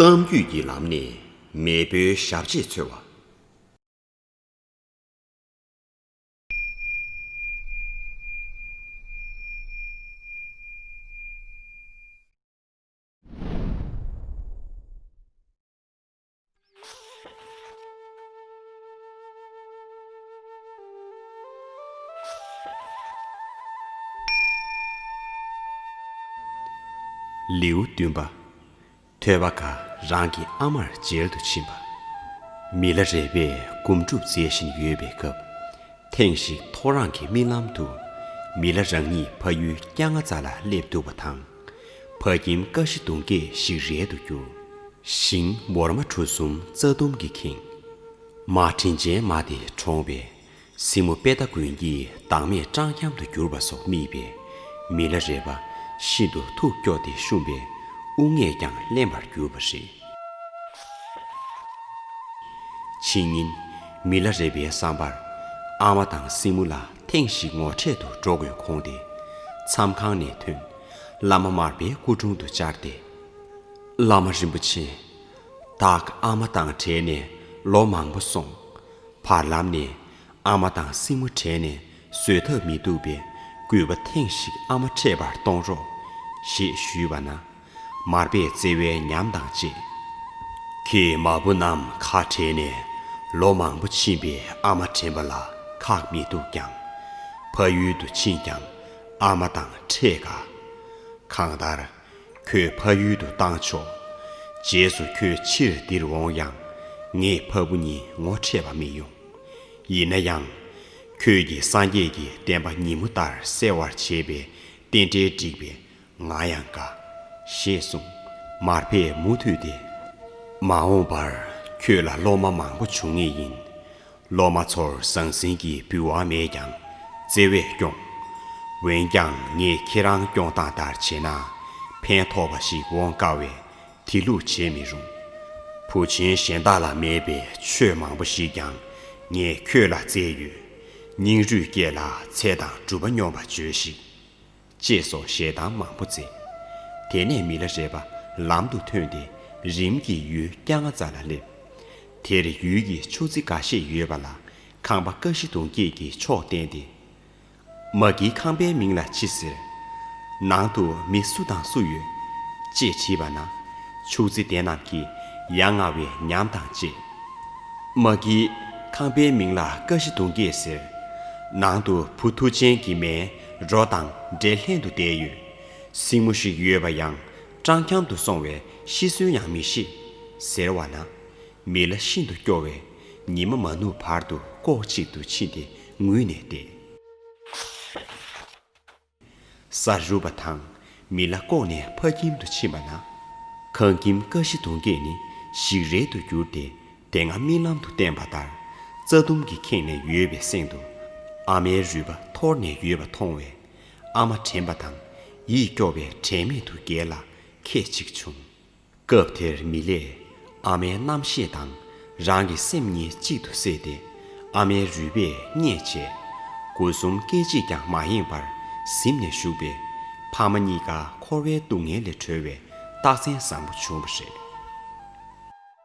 གཏམ་རྒྱུད་ཀྱི་ལམ་ནས་མེས་པོའི་ཞབས་རྗེས་འཚོལ་བ། ལེའུ་བདུན་པ། ཐོས་པ་འགའ་རང་གི་ཨ་མར་མཇལ་དུ་ཕྱིན་པ། མི་ལ་རས་པས་སྒོམ་སྒྲུབ་མཛད་བཞིན་ཡོད་པའི་སྐབས། ཐེངས་ཤིག་ཐོ་རངས་ཀྱི་རྨི་ལམ་དུ། མི་ལ་རང་ཉིད་ཕ་ཡུལ་སྐྱ་རྔ་ཙཱ་ལ་སླེབས་འདུག་པ་དང། བ་གྱིན་དཀའ་བཞི་གདུང་སྐྱེས་ཤིག་རལ་དུ་གྱུར། ཤིང་མོར་མ་གྲུ་གསུམ་རྩ་ལྡུམ་གྱིས་ཁེངས། མ་དྲིན་ཅན་མ་དེ་གྲོངས་པས། སྲིང་མོ་དཔལ་རྟ་མགོན་གྱིས་བདག་མེད་སྤྲང་འཁྱམ་དུ་གྱུར་པ་སོགས་རྨིས་པས། མི་ལ་རས་པ་ཤིན་ཏུ་ཐུགས་སྐྱོ་སྟེ་བཤུམས་པས་དབུགས་ངད་ཀྱང་བརླན་པར་གྱུར་པ་རེད། ཕྱི་ཉིན། མི་ལ་རས་པའི་བསམ་པར། ཨ་མ་དང་སྲིང་མོ་ལ་ཐེངས་ཤིག་ངོ་འཕྲད་དུ་འགྲོ་དགོས་དགོངས་ཏེ། མཚམས་ཁང་ནས་ཐོན། བླ་མ་མར་པའི་སྐུ་དྲུང་དུ་བཅར་ཏེ། བླ་མ་རིན་པོ་ཆེ། བདག་ཨ་མ་དང་བྲལ་ནས་ལོ་མང་པོ་སོང། བར་ལམ་ནས་ཨ་མ་དང་སྲིང་མོ་བྲལ་ནས་བཟོད་ཐབས་མི་འདུག་པས་གུས་པ་ཐེངས་ཤིག་ཨ་མ་འཕྲད་པར་གཏོང་རོགས། ཞེས་ཞུས་པ་ན། མར་པའི་བརྩེ་བའི་ཉམས་དང་བཅས། ཁྱེད་མ་བུ་རྣམས་ཁ་བྲལ་ནས་ལོ་མང་པོ་ཕྱིན་པས་ཨ་མ་དྲན་པ་ལ་ཁག་མི་འདུག་ཀྱང། ཕ་ཡུལ་དུ་ཕྱིན་ཀྱང་ཨ་མ་དང་འཕྲད་དཀའ། གང་ལྟར། ཁྱོད་ཕ་ཡུལ་དུ་བཏང་ཆོག། རྗེས་སུ་ཁྱོད་ཕྱིར་འདིར་འོང་ཡང། ངས་ཕ་བུ་གཉིས་ངོ་འཕྲད་པ་མི་ཡོང། ཡིན་ན་ཡང། ཁྱོད་ཀྱིས་སངས་རྒྱས་ཀྱི་བསྟན་པ་ཉིན་མོ་ལྟར་གསལ་བར་བྱེད་པའི་རྟེན་འབྲེལ་བསྒྲིགས་པས་ང་ཡང་དགའ། ཞེས་གསུངས། མར་པས་མུ་མཐུད་དེ། མ་འོངས་པར་ཁྱོད་ལ་སློབ་མ་མང་པོ་འབྱུང་ངེས་ཡིན། སློབ་མ་ཚོར་ཟང་ཟིང་གི་འབུལ་བ་མེད་ཀྱང་བརྩེ་བས་སྐྱོང། འོན་ཀྱང་ངས་ཁྱེད་རང་སྐྱོང་སྟངས་ལྟར་བྱས་ན་ཕན་ཐོགས་པ་ཞིག་འོང་དཀའ་བས་དེ་ལུགས་བྱེད་མི་རུང། བུ་ཆེན་གཞན་དག་ལ་མེད་པའི་ཆོས་མང་པོ་ཞིག་ཀྱང་ངས་ཁྱོད་ལ་བསྩལ་ཡོད། སྙིང་རུས་བསྐྱེད་ལ་ཚེ་དང་སྒྲུབ་པ་སྙོམས་པར་བྱོས་ཤིག། ཅེས་སོགས་ཞལ་གདམས་མང་པོ་མཛད། དེ་ནས་མི་ལ་རས་པ་ལམ་དུ་ཐོན་ཏེ་རིམ་གྱིས་ཡུལ་སྐྱ་ང་ཙ་ལ་སླེབས། དེར་ཡུལ་གྱི་ཆུ་རྫི་འགའ་ཤས་ཡོད་པ་ལ་ཁང་པ་དཀའ་བཞི་དུང་སྐྱེས་ཀྱི་མཆོག་བསྟན་ཏེ། མ་ཀིའི་ཁང་པའི་མིང་ལ་ཅི་ཟེར། ནང་དུ་མི་སུ་དང་སུ་ཡོད། ཅེས་དྲིས་པ་ན། ཆུ་རྫི་དེ་རྣམས་ཀྱིས་ཡ་ང་བའི་ཉམས་དང་བཅས། མ་ཀིའི་ཁང་པའི་མིང་ལ་དཀའ་བཞི་དུང་སྐྱེས་ཟེར། ནང་དུ་བུ་ཐུགས་ཆེན་གྱི་མའི་རོ་དང་འདྲེ་ལྷན་དུ་བསྡད་ཡོད། སྲིང་མོ་ཞིག་ཡོད་པ་ཡང་སྤྲང་འཁྱམ་དུ་སོང་བས་ཤི་གསོན་ཡང་མི་ཤེས། ཟེར་བ་ན། མི་ལ་ཤིན་ཏུ་སྐྱོ་བས་ཉི་མ་མ་ནུབ་བར་དུ་ལྐོག་ཅིག་ཏུ་ཕྱིན་ཏེ་ངུས་ནས་བསྡད། ས་རུབ་པ་དང་མི་ལ་ལྐོག་ནས་ཕ་ཁྱིམ་དུ་ཕྱིན་པ་ན། ཁང་ཁྱིམ་ཀ་བཞི་དུང་སྐྱེས་ནི་ཞིག་རལ་དུ་གྱུར་ཏེ་དེ་སྔ་རྨི་ལམ་དུ་བསྟན་པ་ལྟར་རྩྭ་ལྡུམ་གྱིས་ཁེངས་ནས་ཡོད་པའི་གསེང་དུ། ཨ་མའི་རུས་པ་འཐོར་ནས་ཡོད་པ་མཐོང་བས། ཨ་མ་དྲན་པ་དང་ཡིད་སྐྱོ་བས་དྲན་མེད་དུ་སྒལ་ལ་ཁད་ཅིག་བྱུང། སྐབས་དེར་མི་ལས་ཨ་མའི་རྣམ་ཤེས་དང་རང་གི་སེམས་གཉིས་གཅིག་ཏུ་བསྲེས་ཏེ་ཨ་མའི་རུས་པས་མཉེད་བྱས། དགུ་གསུམ་སྐད་ཅིག་ཀྱང་མ་ཡེངས་པར་གཟིམ་ནས་བཞུགས་པས། ཕ་མ་གཉིས་ཀ་འཁོར་བའི་སྡུག་བསྔལ་ལས་གྲོལ་བའི་རྟགས་མཚན་བཟང་པོ་བྱུང་བ་རེད།